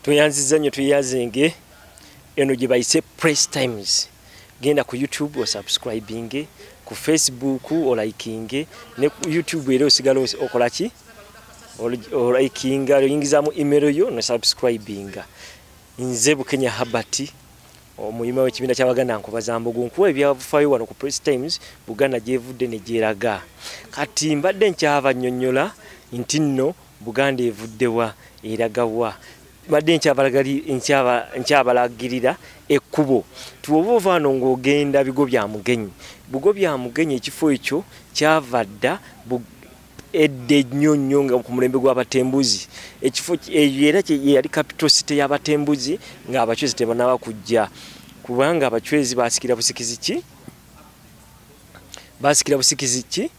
tweyanziza nnyo tweyazinge eno gye bayise press times genda ku youtube osubscribinge ku facebook olikinge ne ku youtube era osigala okola ki olikinga oyingizamu email yo nosubscribinga nze bukenya habati Omuyima w'ekibiina ky'Abaganda Nkobazambogo nkuwa ebyafaayo wano ku Press Times Buganda gy'evudde ne gyeraga. Kati mbadde nkyabannyonnyola nti nno Buganda evuddewa eragawa badde nkyabalagirira ekkubo tiwoba ovaano ng'ogenda bigo bya mugenyi bugo bya mugenyi ekifo ekyo kyava dda edda ennyo nnyo nga ku mulembe gw'abatembuzi ekifo eyo era yali capital city y'abatembuzi ng'abacwezi tebanaba kujja kubanga abacwezi basikira busikizi ki basikira busikizi ki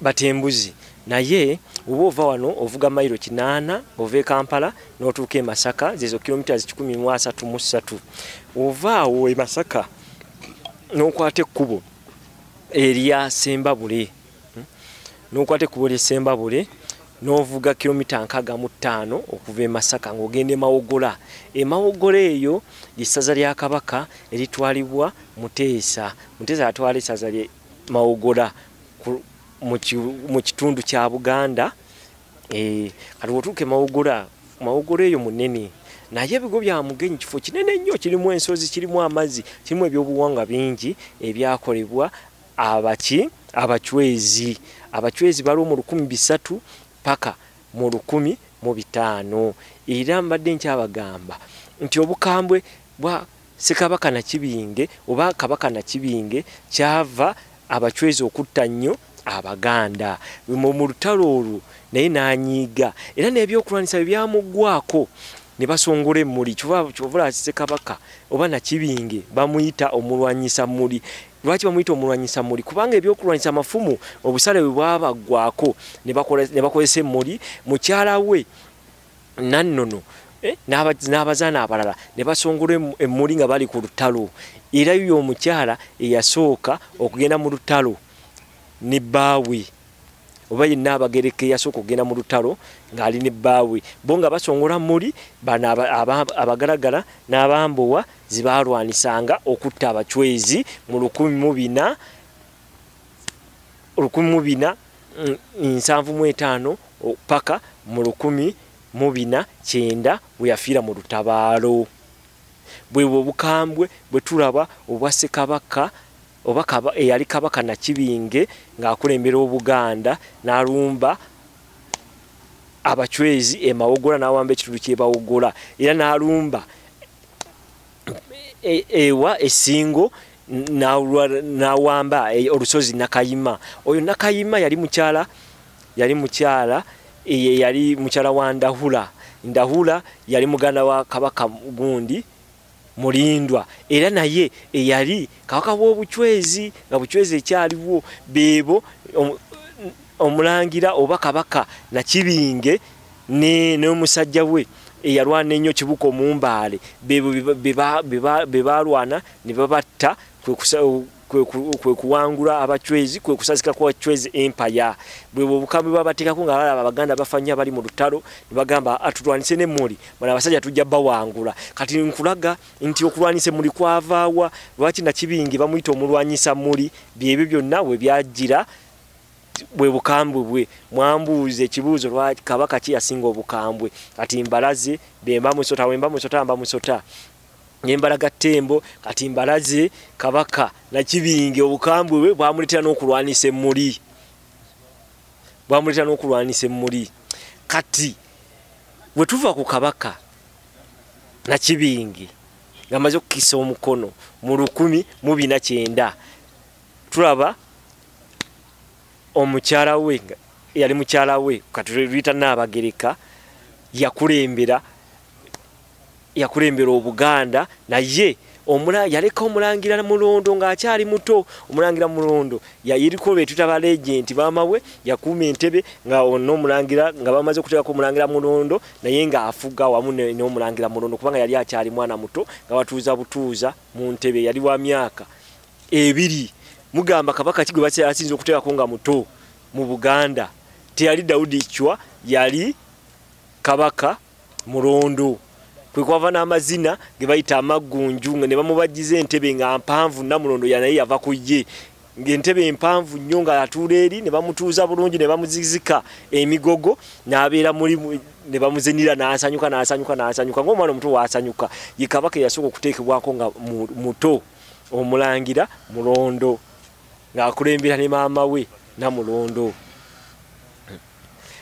batembuzi naye oba ova wano ovuga mailo kinaana ova ekampala notuuka emasaka zezo kilomita zikikumi mu asatu mu ssatu ova awo emasaka nokwata ekkubo erya sembabule hmm? nokwata ekkubo lye sembabule n'ovuga kilomita nkaaga mu ttaano okuva e masaka ng'ogenda emawogola emawogola eyo lyessaza lya kabaka eritwalibwa muteesa muteesa atwala essaza lye mawogola mu kitundu kya buganda Eh, kati wotuuka emawogora mawogora eyo munene naye ebigo bya mugenyi kifo kinene nnyo kirimu ensozi kirimu amazzi kirimu ebyobuwanga bingi ebyakolebwa abaki abacwezi abacwezi baliwo mu lukumi bisatu paka mu lukumi mu bitaano era mbadde nkyabagamba nti obukambwe bwa Ssekabaka Nakibinge oba Kabaka Nakibinge kyava abacwezi okutta nnyo Abaganda mu lutalo olwo naye n'anyiiga era n'ebyokulwanyisa bye byamuggwako ne basongola emmuli kyovula Ssekabaka oba Nakibinge bamuyita omulwanyisa mmuli lwaki bamuyita omulwanyisa mmuli kubanga ebyokulwanyisa amafumu obusale bwe bwabaggwako ne bakozesa emmuli mukyala we nannono eh, n'abazaana abalala ne basongola emmuli nga bali ku lutalo era yo omukyala eyasooka okugenda mu lutalo ne bbaawe oba yenna abagereka eyasooka okugenda mu lutalo ng'ali ne bbaawe bo nga basongola mmuli bano abagalagala n'abambowa zibaalwanisanga okutta abacwezi mu lukumi mu bina olukumi mu bina mm, nsanvu mu etaano paka mu lukumi mu bina kyenda bwe yafiira mu lutabaalo bwebwe obukambwe bwe tulaba obwa sekabaka oba eyali kabaka nakibinge ng'akulembera obuganda n'alumba abacwezi emawogola n'awamba ekitundu kyebawogola era n'alumba e, ewa esingo nawamba e, olusozi nakayima oyo nakayima yali mukyala yali mukyala eye yali mukyala wa ndahula ndahula yali muganda wa kabaka gundi mulindwa era naye eyali kabaka w'obucwezi nga bucwezi ekyaliwo beebo omulangira oba kabaka nakibinge ne n'omusajja we eyalwana ennyo kibuka omumbaale be baalwana ne babatta kwe kuwangula abacwezi kwe kusazika kwa cwezi empaya bwebwo obukambwe bwabateekako nga balaba abaganda bafa nnyo abali mu lutalo ne bagamba atulwanise ne muli bona abasajja tujja bawangula kati nkulaga nti okulwanisa muli kwavaawa lwaki nakibingi bamuyita omulwanyisa muli byebyo byonna we byajjira bwe bukambwe bwe mwambuuza ekibuuzo lwa kabaka ki yasinga obukambwe kati mbalaze bemba musota wemba musota mba musota nembalaga ttembo kati mbalaze kabaka nakibingi obukambwe bwe bwamuletera n'okulwanisa emmuli bwamuletera n'okulwanisa emmuli kati bwe tuva ku kabaka nakibingi ngamaze okukisa omukono mu lukumi mu bina kyenda tulaba omukyala we yali mukyala we katuluyita naabagereka yakulembera yakulembera obuganda naye yaleka omulangira mulondo ng'akyali muto omulangira mulondo yayiriko betuta balegenti bamawe yakuuma entebe nga ona omulangira nga bamaze okuteekako omulangira mulondo naye ng'afuga wamu n'omulangira mulondo kubanga yali akyali mwana muto nga batuuza butuuza mu ntebe yali wa myaka ebiri mugamba kabaka kigwe bakye asinze okuteka ko nga muto mu Buganda teyali Daudi chwa yali kabaka murondo kwe kwava na mazina ge bayita amagunju nga ne bamubajize entebe nga mpanvu na murondo ya naye yava kuyye ngentebe mpanvu nnyo nga atuula eri ne bamutuuza bulungi ne bamuzizika emigogo n'abeera muli ne bamuzinira n'asanyuka n'asanyuka n'asanyuka ng'omwana omuto waasanyuka ye kabaka eyasooka okuteekebwako nga muto omulangira mulondo ng'akulembera ne maama we namulondo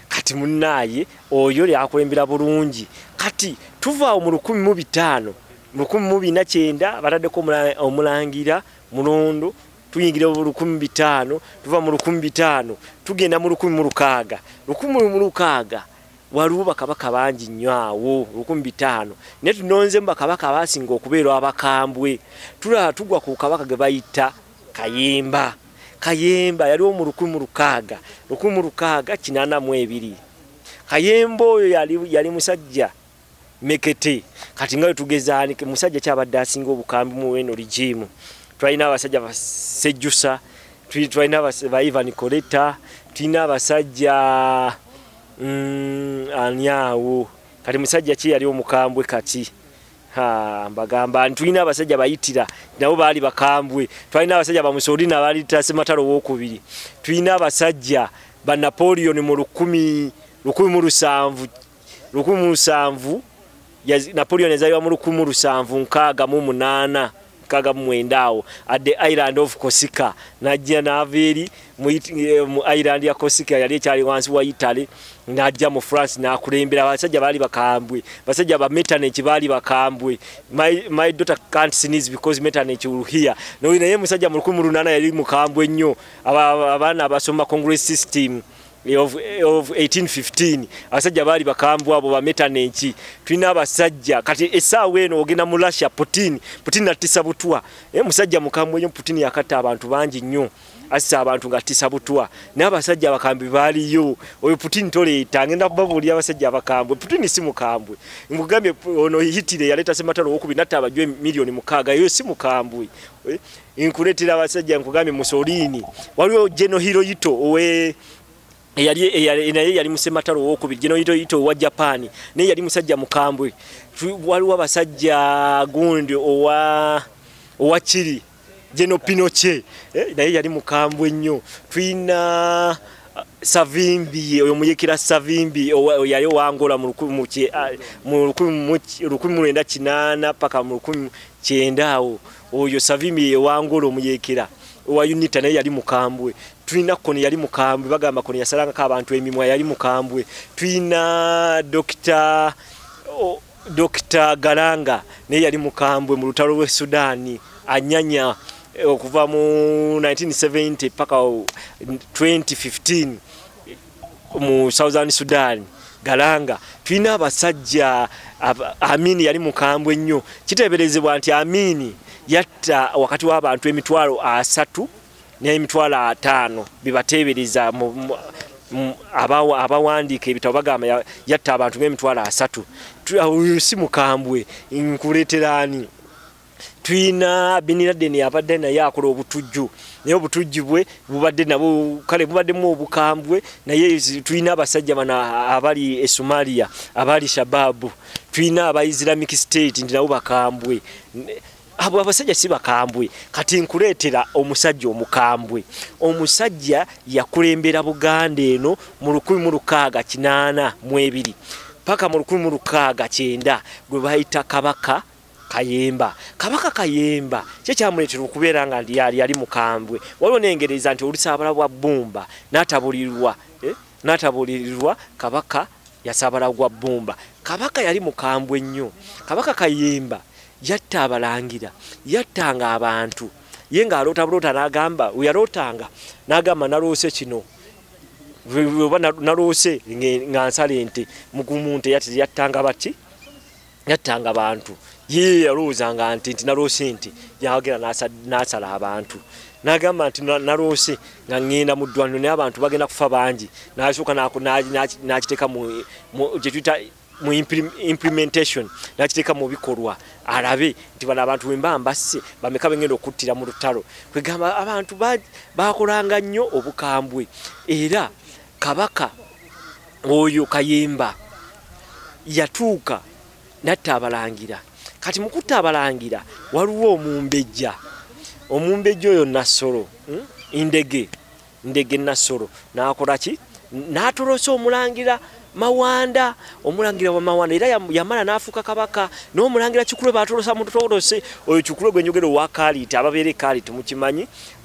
kati munaaye oyo lyakulembera bulungi kati tuvaawo mu lukumi mu bitaano mu lukumi mu bina kyenda bataddeko omulangira mulondo tuyingira mu lukumi bitaano tuva mu lukumi bitaano tugenda mu lukumi mu lukaaga lukumi mu lukaaga waliwo bakabaka bangi nnyo awo lukumi bitaano naye tunonzemu bakabaka abasinga okubeerwa abakambwe tulaba tugwa ku kabaka ge bayita kayemba kayemba yaliwo mu lukumi mu lukaaga lukumi mu lukaaga kinaana mu ebiri kayemba oyo yali, yali musajja mekete kati nga wetugezaanike musajja kyabadde asinga obukambi mu eno ligimu twalina abasajja basejjusa twalina ba ivan coleta tulina abasajja Mm, ani awo kati musajja ki yali omukambwe kati mbagamba tulina abasajja bayitira nabo baali bakambwe twalina abasajja bamusoli nabaali tasematalo wokubiri tulina abasajja ba napoleon mu lukumi lukumi mu lusanvu lukumi mu lusanvu Napoleon yazaliwa mu lukumu lusanvu nkaaga mu munaana nkaaga mu mwenda awo at the island of Corsica n'ajja n'ava eri mu eh, island ya Corsica yali ekyali wansi wa Italy n'ajja mu France n'akulembera abasajja baali bakambwe basajja ba metaneki baali bakambwe my, my daughter can't sneeze because metaneki will hear no, naye musajja mu lukumu lunaana yali mukambwe nnyo abaana abasoma congress system of 1815 abasajja baali bakambu abo bametana enki tulina abasajja kati esaawa eno ogenda mu russia putin putin natisa butwa e musajja mukambwe nyo putin yakatta abantu bangi nnyo assa abantu ngattisa butwa naye abasajja abakambi baaliyo oyo putin toleeta ngenda kubabuulira abasajja abakambwe putin si mukambwe nkugambye ono hitire yaleeta sematalo wokubi natta abajwe miliyoni mukaaga eyo si mukambwe eh? nkuletera abasajja nkugambye musolini waliwo geno hiroyito owe eyali naye yali musematalo owokubiri geno hiroyito owa japan naye yali musajja mukambwe waliwo abasajja gundi owa owa kiri geno pinoche eh, naye yali mukambwe nnyo tulina uh, savimbi oyo muyekera savimbi yali owangola mu lukumi lwenda kinaana paka mu lukumi kyenda awo oyo savimi yewangula omuyekera owa unita naye yali mukambwe tulina kono yali mukambwe bagamba kono yasalangako abantu emimwa yali mukambwe tulina dokita oh, dokita galanga naye yali mukambwe mu lutalo lwe sudaani anyanya eh, okuva mu 1970 paka 2015 mu southern sudan galanga tulina abasajja amini yali mukambwe nnyo kiteeberezebwa nti amini yatta wakati w'abantu emitwalo asatu n'emitwalo ataano bibateebereza abawandiika ebitabo bagamba yatta abantu ng'emitwalo asatu si mukambwe nkuleeteraani tulina biniraden abadde naye akola obutujju naye obutujju bwe bubadde nabo kale bubaddemu obukambwe naye tulina abasajja bano abali e somalia abali shababu tulina aba islamic state nti nabo bakambwe abo abasajja si bakambwe kati nkuleetera omusajja omukambwe omusajja yakulembera buganda eno mu 1682 paka mu 16 gwe bayita kabaka kayemba kabaka kayemba kye kyamuleetera okubeera nga yali yali mukambwe waliwo nengereza nti olusaabala bwa bbumba n'atabulirirwa eh, n'atabulirirwa kabaka yasaabala gwa bbumba kabaka yali mukambwe nnyo kabaka kayemba yatta abalangira yattanga abantu ye ng'aloota buloota n'agamba weyalootanga n'agamba naloose kino oba naloose nga nsala ente mugumu nte yattanga baki yattanga bantu ye yalowoozanga nti nti naloosi nti yagenda n'asala abantu n'agamba nti naloosi nga ŋŋenda mu ddwaniro naye abantu bagenda kufa bangi n'asooka n'akiteeka gyetuyita mu implementation n'akiteeka mu bikolwa alabe nti bano abantu wemba mbasse bameka bengenda okuttira mu lutalo kwegamba abantu bakolanga nnyo obukambwe era kabaka oyo kayemba yatuuka natta abalangira kati mukutta abalangira waliwo omumbejja omumbejja oyo nassolo hmm? ndege ndege nassolo nakola ki natolosa omulangira mawanda omulangira wa mawanda era yamala nafuuka kabaka n'omulangira kikulwe batolosa mutotolose oyo kikulwe gwenjogera owakaliita ababeera ekaliita mukimanyi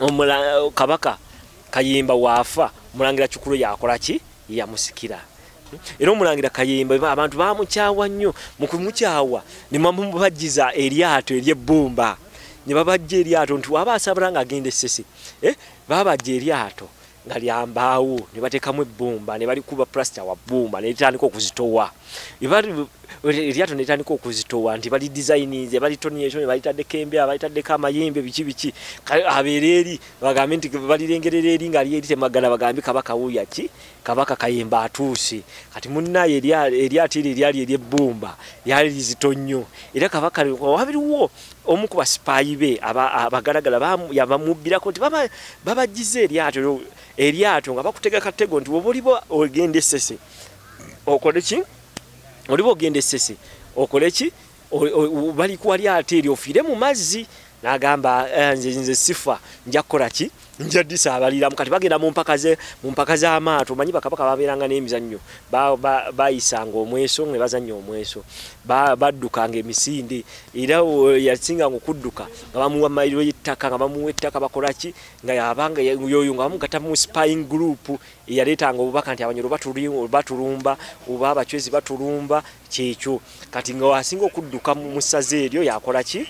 omula kabaka kayimba wafa mulangira kikulu yakola ki yamusikira era omulangira kayimba abantu bamukyawa nnyo mukumukyawa nemamubajjiza eryato eryebbumba nebabajja eryato nti waba asabula nga agenda esese eh? babajja eryato nga lya mbaawo ne bateekamu ebbumba ne balikuba pulasita wa bbumba ne litandika okuzitowa eryato ne litandika okuzitowa nti bali dizayininze balitoniekyo ne balitaddeko embeera balitaddeko amayembe biki biki abeera eri bagambe nti balirengerera eri nga lyeri temagala bagambe kabaka wuuya ki kabaka kayemba atuuse kati munnaye eryato eryo eryali eryebbumba lyali lizito nnyo era kabaka wabiriwo omu ku basipaayi be abagalagala yabamubbirako nti babajjiza eryato eryato nga bakutega katego nti woba oliba ogenda esese okole ki oliba ogenda esese okole ki balikuwa lyato eryo ofiire mu mazzi n'agamba eh, nze nze sifa nja kukola ki nja disabaliramu kati bagenda mu mpaka ze mu mpaka za maato manyi bakabaka babeeranga n'emizannyo bayisanga ba, ba omweso ne bazannya omweso baddukanga ba emisinde era yasinga nga okudduka nga bamuwa mayiro y'ettaka nga bamuwa ettaka bakola ki nga yabanga yoyo nga bamugata mu spying group eyaleetanga obubaka nti abanyoro batulumba oba abacwezi batulumba kyekyo kati nga wasinga okudduka mu ssaza eryo yakola ki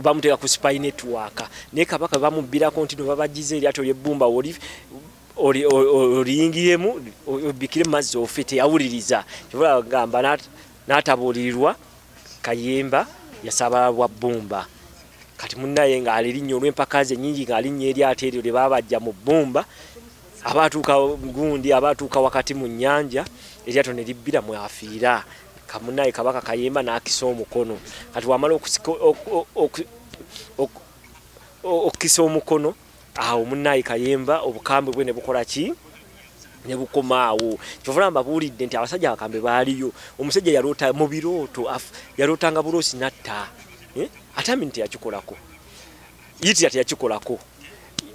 bamuteeka ku spy network naye kabaka bamubbirako nti no babagize eryato lyebbumba oli oliyingiremu obikire mumazzi ofe teyawuliriza kyobalagamba n'atabuulirirwa kayemba yasabala bwa bbumba kati munaye ng'alirinnya olw'empaka ze nyingi ng'alinnya eryato eryo lye babajja mu bbumba abaatuuka gundi abaatuuka wakati mu nnyanja eryato ne libbira mwafiira kamunaye kabaka kayemba nakisa omukono kati wamala okukisa omukono awo munaye kayemba obukambwe bwe nebukola ki nebukomaawo kyovula mbabuulidde nti abasajja abakambe baaliyo omusajja yaloota mu birooto yalootanga buloosi natta eh? atami nti yakikolako yitira teyakikolako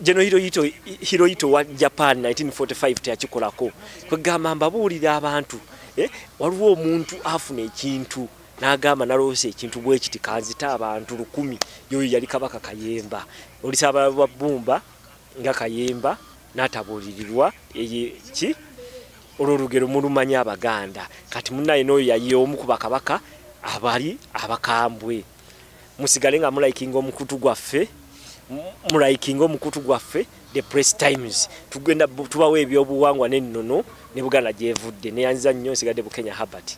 geno hiroyito hiroyito wa japan 1945 teyakikolako kwegamba mbabuulira abantu eh, waliwo omuntu afuna ekintu n'agamba naloosa ekintu bwe kiti kanzita abantu lukumi yoyo yali kabaka kayemba olisaba lwa bbumba nga kayemba n'atabuulirirwa eye ki olwo olugero mulumanya abaganda kati munaye n'oyo yayiye omu ku bakabaka abali abakambwe musigale nga mulayikinga omukutu gwaffe mulayikinga omukutu gwaffe the press times tugenda tubawo ebyobuwangwa n'ennono ne buganda gyevudde neyanziza nnyo nsigadde bukenya habert